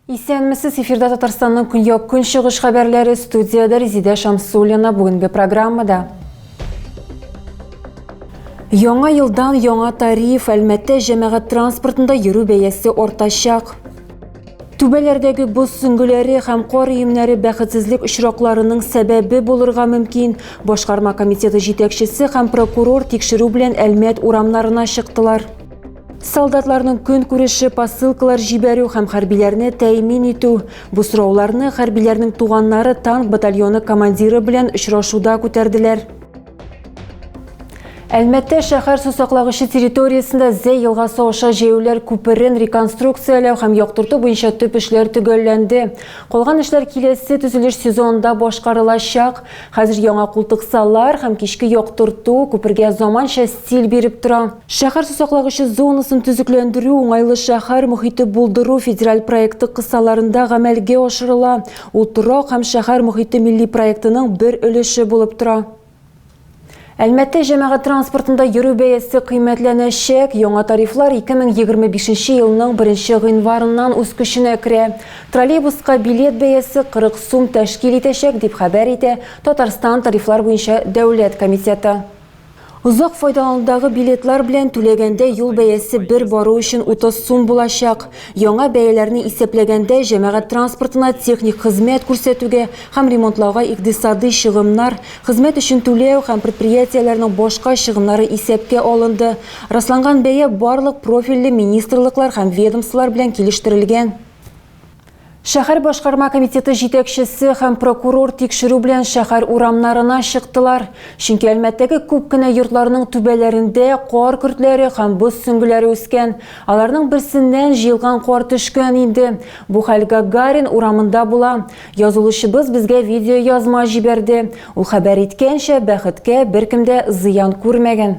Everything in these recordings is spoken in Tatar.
Исәнмесез, эфирда Татарстанның көньяк көнчыгыш хәбәрләре студияда Резидә Шамсуллина бүгенге программада. Яңа елдан яңа тариф Әлмәттә җәмәгать транспортында йөрү бәясе артачак. Түбәләрдәге боз сөңгеләре һәм кар өемнәре бәхетсезлек очракларының сәбәбе булырга мөмкин. Башкарма комитеты җитәкчесе һәм прокурор тикшерү белән Әлмәт урамнарына чыктылар. Солдатларның көн күреше, посылкалар җибәрү һәм хәрбиләрне тәэмин итү. Бу сорауларны хәрбиләрнең туганнары танк батальоны командиры белән очрашуда күтәрделәр. Әлмәттә шәһәр сусаклагычы территориясендә Зәй елгасы аша җәяүләр күперен реконструкцияләү һәм яктырту буенча төп эшләр төгәлләнде. Калган эшләр киләсе төзелеш сезонында башкарылачак. Хәзер яңа култыксалар һәм кичке яктырту күпергә заманча стиль биреп тора. Шәһәр сусаклагычы зонасын төзекләндерү уңайлы шәһәр мохите булдыру федераль проекты кысаларында гамәлгә ашырыла. Ул торак һәм шәһәр мохите милли проектының бер өлеше булып тора. Әлмәттә җәмәгать транспортында йөрү бәясе кыйммәтләнәчәк. Яңа тарифлар 2025 елның 1 гыйнварыннан үз көченә керә. Троллейбуска билет бәясе 40 сум тәшкил итәчәк, дип хәбәр итә Татарстан тарифлар буенча дәүләт комитеты. Озак файдаланудагы билетлар белән түләгәндә юл бәясе бер бару өчен 30 сум булачак. Яңа бәяләрне исәпләгәндә, җәмәгать транспортына техник хезмәт күрсәтүгә һәм ремонтлауга икътисади чыгымнар, хезмәт өчен түләү һәм предприятиеләрнең башка чыгымнары исәпкә алынды. Расланган бәя барлык профильле министрлыклар һәм ведомстволар белән килештерелгән. Шәһәр башкарма комитеты җитәкчесе һәм прокурор тикшерү белән шәһәр урамнарына чыктылар. Чөнки Әлмәттәге күп кенә йортларның түбәләрендә кар көртләре һәм боз сөңгеләре үскән. Аларның берсеннән җыелган кар төшкән инде. Бу хәл Гагарин урамында була. Язылучыбыз безгә видеоязма җибәрде. Ул хәбәр иткәнчә, бәхеткә, беркем дә зыян күрмәгән.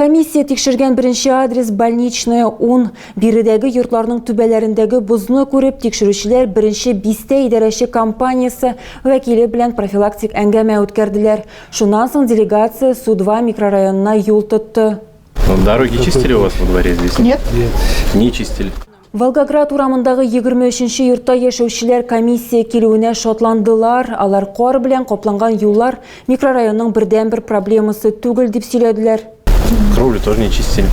Комиссия тикшергән беренче адрес больничная 10. Биредәге йортларның түбәләрендәге бозны күреп, тикшерүчеләр беренче бистә идарәче компаниясе вәкиле белән профилактик әңгәмә үткәрделәр. Шуннан соң делегация Су-2 микрорайонына юл тотты. Дороги чистили у вас во дворе здесь? Нет. Не чистили. Волгоград урамындагы 23 нче йортта яшәүчеләр комиссия килүенә шатландылар. Алар кар белән капланган юллар микрорайонның бердәнбер проблемасы түгел дип сөйләделәр. Кровлю тоже не чистили.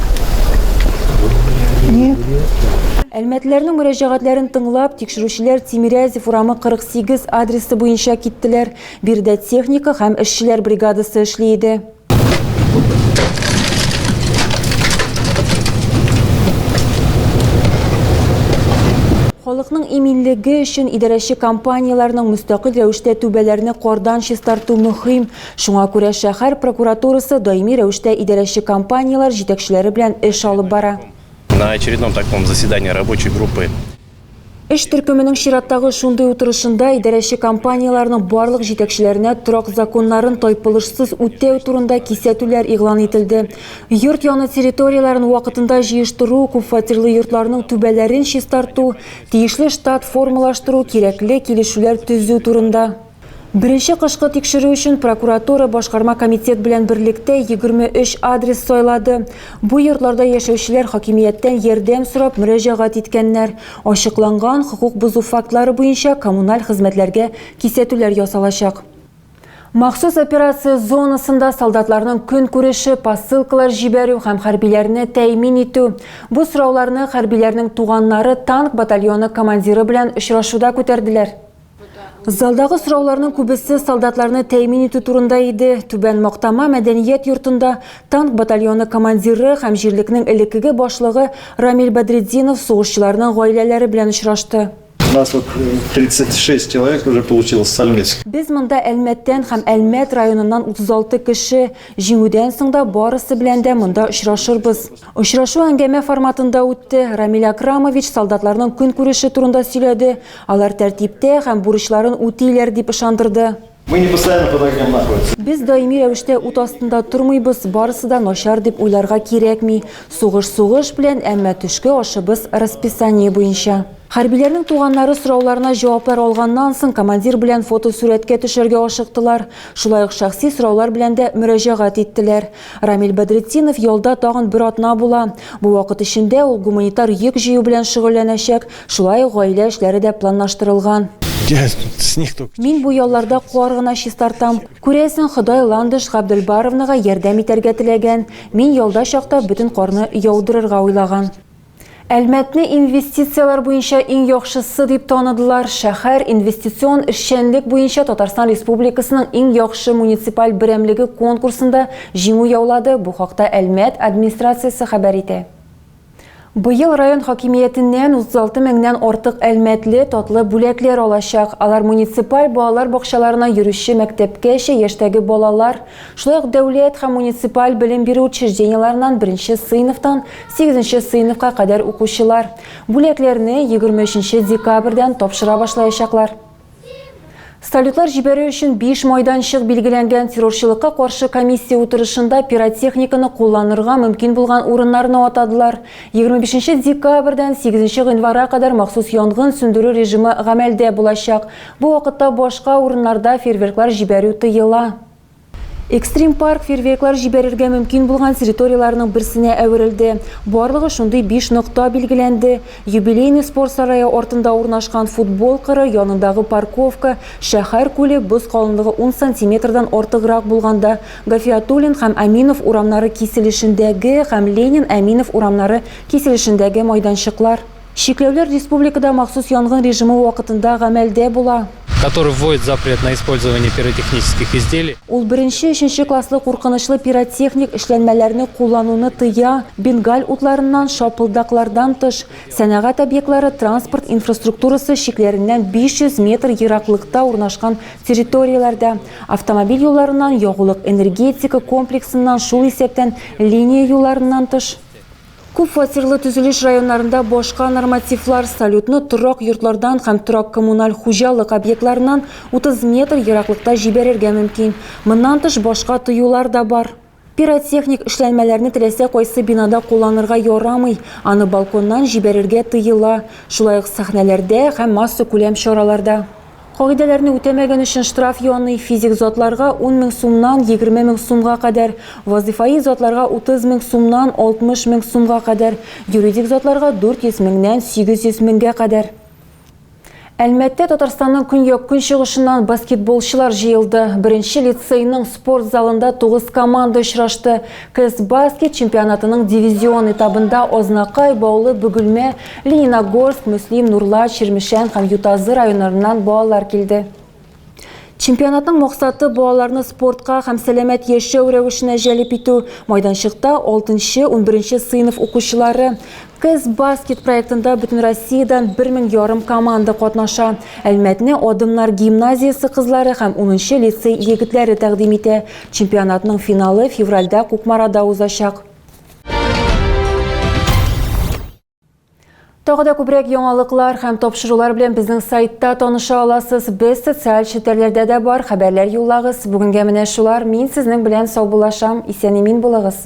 Әлмәтләрнең мөрәҗәгатьләрен тыңлап, тикшерүчеләр Тимирязев урамы 48 адресы буенча киттеләр. Биредә техника һәм эшчеләр бригадасы эшли иде. Халыкның иминлеге өчен идарәче компанияләрнең мөстәкыйль рәвештә түбәләрне кардан чистарту мөһим. Шуңа күрә шәһәр прокуратурасы даими рәвештә идарәче компанияләр җитәкчеләре белән эш алып бара. На очередном таком заседании рабочей группы Эш төркеменең чираттагы шундый утырышында идарәче компанияләрнең барлык җитәкчеләренә торак законнарын тайпылышсыз үтәү турында кисәтүләр игълан ителде. Йорт яны территорияләрен вакытында җыештыру, күпфатирлы йортларның түбәләрен чистарту, тиешле штат формалаштыру, кирәкле килешүләр төзү турында. Беренче кышкы тикшерү өчен прокуратура башкарма комитет белән берлектә 23 адрес сайлады. Бу йортларда яшәүчеләр хакимияттән ярдәм сорап мөрәҗәгать иткәннәр. Ачыкланган хокук бозу фактлары буенча коммуналь хезмәтләргә кисәтүләр ясалачак. Махсус операция зонасында солдатларның көнкүреше, посылкалар җибәрү һәм хәрбиләрне тәэмин итү. Бу сорауларны хәрбиләрнең туганнары танк батальоны командиры белән очрашуда күтәрделәр. Залдагы сорауларның күбесе солдатларны тәэмин итү турында иде. Түбән Мактама мәдәният йортында танк батальоны командиры һәм җирлекнең элеккеге башлыгы Рамил Бәдретдинов сугышчыларның гаиләләре белән очрашты. У нас вот 36 человек уже получил Стальмецк. Без монда Әлмәттән һәм Әлмәт районыннан 36 кеше. Җиңүдән соң да барысы белән дә монда очрашырбыз. Очрашу әңгәмә форматында үтте. Рамил Акрамович солдатларның көнкүреше турында сөйләде, Алар тәртиптә һәм бурычларын үтиләр, дип ышандырды. Мы не постоянно под огнем находимся. Без даими рәвештә ут астында тормыйбыз, барысы да начар дип уйларга кирәкми. Сугыш сугыш белән, әмма төшке ашыбыз расписание буенча. Хәрбиләрнең туганнары сорауларына җаваплар алганнан соң, командир белән фотосурәткә төшәргә ашыктылар. Шулай ук шәхси сораулар белән дә мөрәҗәгать иттеләр. Рамил Бәдретдинов ялда тагын бер атна була. Бу вакыт эчендә ул гуманитар йөк җыю белән шөгыльләнәчәк, Шулай ук гаилә эшләре дә планлаштырылган. Мин бу ялларда кар гына чистартам. Күрәсең, Ходай Ландыш Габделбаровнага ярдәм итәргә теләгән. Мин ялда чакта бөтен карны яудырырга уйлаган. Әлмәтне инвестицияләр буенча иң яхшысы дип таныдылар. Шәһәр инвестицион эшчәнлек буенча Татарстан Республикасының иң яхшы муниципаль берәмлеге конкурсында җиңү яулады, бу хакта Әлмәт администрациясе хәбәр итә. Быел район хакимиятеннән 36 меңнән артык әлмәтле татлы бүләкләр алачак. Алар муниципаль балалар бакчаларына йөрүче мәктәпкәчә яшьтәге балалар, шулай ук дәүләт һәм муниципаль белем бирү учреждениеләреннән беренче сыйныфтан сигезенче сыйныфка кадәр укучылар. Бүләкләрне 23 декабрьдән тапшыра башлаячаклар. Салютлар җибәрү өчен 5 майданчык билгеләнгән террорчылыкка каршы комиссия утырышында пиротехниканы кулланырга мөмкин булган урыннарны атадылар. 25 декабрьдән 8 гыйнварга кадәр махсус янгын сүндерү режимы гамәлдә булачак. Бу вакытта башка урыннарда фейерверклар җибәрү тыела. Экстрим парк фейерверклар җибәрергә мөмкин булган территорияләрнең берсенә әверелде. Барлыгы шундый биш нокта билгеләнде. Юбилейный спорт сарае артында урнашкан футбол кыры янындагы парковка, Шәһәр күле, боз калынлыгы ун сантиметрдан артыграк булганда, Гафиатуллин һәм Әминов урамнары киселешендәге һәм Ленин, Әминов урамнары киселешендәге майданчыклар. Чикләүләр республикада махсус янгын режимы вакытында гамәлдә була. Который вводит запрет на использование пиротехнических изделий. Ул беренче, өченче класслы куркынычлы пиротехник эшләнмәләрне куллануны тыя, бенгаль утларыннан, шапылдаклардан тыш. Сәнәгать объектлары, транспорт инфраструктурасы чикләреннән 500 метр ераклыкта урнашкан территорияләрдә, автомобиль юлларыннан, ягулык-энергетика комплексыннан, шул исәптән линия юлларыннан тыш. Күп фатирлы төзелеш районнарында башка нормативлар салютны торак йортлардан һәм торак-коммуналь хуҗалык объектларыннан 30 метр ераклыкта җибәрергә мөмкин. Моннан тыш башка тыюлар да бар. Пиротехник эшләнмәләрне теләсә кайсы бинада кулланырга ярамый, аны балконнан җибәрергә тыела, шулай ук сәхнәләрдә һәм массакүләм чараларда. Кагыйдәләрне үтәмәгән өчен штраф яный, физик затларга, ун мең сумнан егерме мең сумга кадәр, вазыйфаи затларга, утыз мең сумнан алтмыш мең сумга кадәр, юридик затларга, дүрт йөз меңнән сигез йөз меңгә кадәр. Әлмәттә Татарстанның көньяк-көнчыгышыннан баскетболчылар җыелды. Беренче лицейның спорт залында тугыз команда очрашты. Кызбаскет чемпионатының дивизион этабында Азнакай, Баулы, Бөгелмә, Лениногорск, Мөслим, Нурлат, Чирмешән һәм Ютазы районнарыннан балалар килде. Чемпионатның максаты балаларны спортка һәм сәламәт яшәү рәвешенә җәлеп итү. Майданчыкта 6-11 сыйныф укучылары Кыз баскет проектында Бөтенроссиядән бер мең ярым команда катнаша. Әлмәтне Адымнар гимназиясе кызлары һәм 10 лицей егетләре тәкъдим итә. Чемпионатның финалы февральдә Кукмарада узачак. Тагы да күбрәк яңалыклар һәм тапшырулар белән безнең сайтта таныша аласыз. Без социаль челтәрләрдә дә бар, хәбәрләр юллагыз. Бүгенгә менә шулар. Мин сезнең белән саубуллашам. Исән-имин булыгыз.